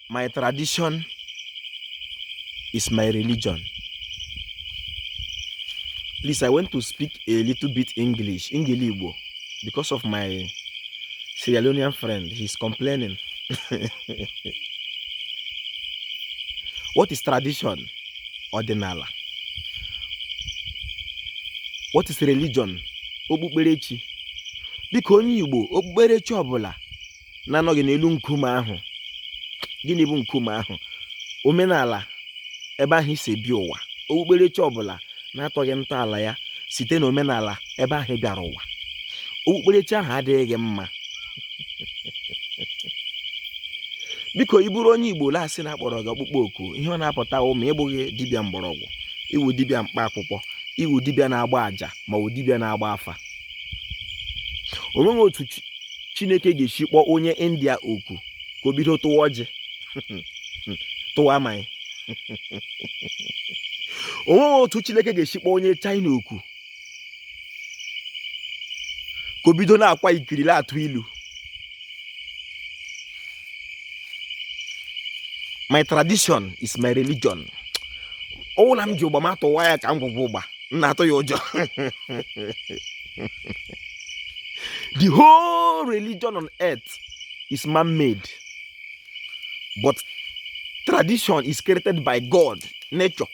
my tradition is my religion please i want to speak a little bit english ngili igbo because of my Sierra Leonean friend he's complaining what is tradition ọdịnala what is religion okpukperechi dịka onye Igbo okpukperechi ọbụla na-anọghị n'elu nkume ahụ gịnị bụ nkume ahụ omenala ebe ahụ i si bịa ụwa okpukperechi ọbụla na-atọghị ntọala ya site na omenala ebe ahụ ị bịara ụwa okpukperechi ahụ adịghị mma biko ị bụrụ onye igbo la asị na a kpọrọ gị ọkpụkpọ oku ihe ọ na-apụta wụ ma ị bụghị dibịa mgbọrọgwụ ị wụ dibịa mkpa akwụkwọ ị wụ dibịa na-agba àjà ma ọ bụ dibịa na-agba afa o nweghị otu chineke ga-esi kpọọ onye india oku ka o bido tụwa ọjị tụwa mmaị o nweghị otu chineke ga-esi kpọọ onye china oku ka o bido na-akwa ikiri na-atụ ilu my tradition is my religion ọ wụ la m ji ụgba m atụwa ya ka m gwụgwọ ụgba m na-atụ ya ụjọ the whole religion on earth is man-made but tradition is created by God nature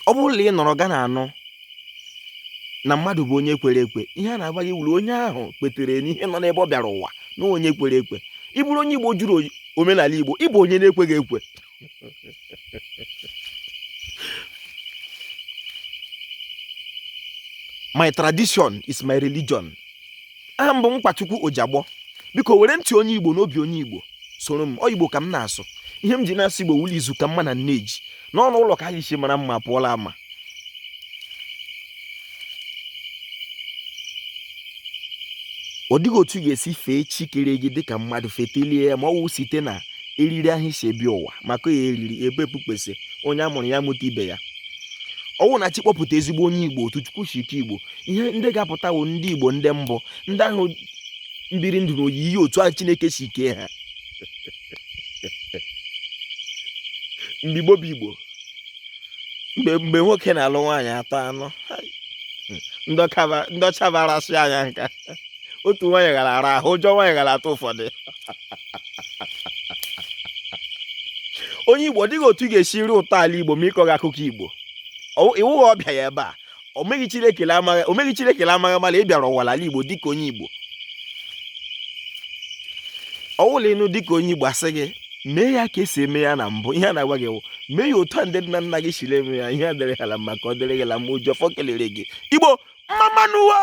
ọ bụrụ na ị nọrọ ga na-anụ na mmadụ bụ onye kwere ekwe ihe a na-agwa gị wụ la onye ahụ kwetere n'ihe nọ n'ebe ọ bịara ụwa na onye kwere ekwe ị bụrụ onye Igbo jụrụ omenala Igbo ị bụ onye na-ekweghị ekwe my tradition is my religion aha m bụ Nkwachukwu Ojagbọ biko were ntị onye Igbo n'obi onye Igbo soro m ọ Igbo ka m na-asụ ihe m ji na-asụ Igbo wụ la izu ka mma na nne ji n'ọnụ ụlọ ka anyị si mara mma pụọ la ama ọ dịghị otu ị ga-esi fee chi kere gị dịka mmadụ fetelie ya ma ọ wụ site na eriri ahụ i si bịa ụwa maka ya eriri ebe ekpukpesị onye a mụrụ ya mụta ibe ya ọ wụ na chi kpọpụta ezigbo onye igbo otu chukwu si kee igbo ihe ndị ga-apụta bụ ndị igbo ndị mbụ ndị ahụ biri ndụ na oyiyi otu ahụ chineke si kee ha mgbe igbo bụ igbo mgbe nwoke na-alụ nwaanyị atọ anọ ndị ọcha bịara sị anyị ka otu nwaanyị ga la-ara ahụ ụjọ nwaanyị ga la-atụ ụfọdụ onye igbo ọ dịghị otu ị ga-esi ri ụtọ ala igbo ma ị kọghị akụkọ igbo ị wụghị ọbịa ya ebe a o meghị Chineke amaghị ama la ị bịara ụwa n'ala Igbo dịka onye Igbo ọ wụ la ị nụ dịka onye Igbo a sị gị mee ya ka e si eme ya na mbụ ihe a na-agwa gị wụ mee ya otu a ndị nna nna gị siri eme ya ihe a dịrị ha la mma ka ọ dịrị gị la mma oji ọfọ kelere gị Igbo mmamma nụ o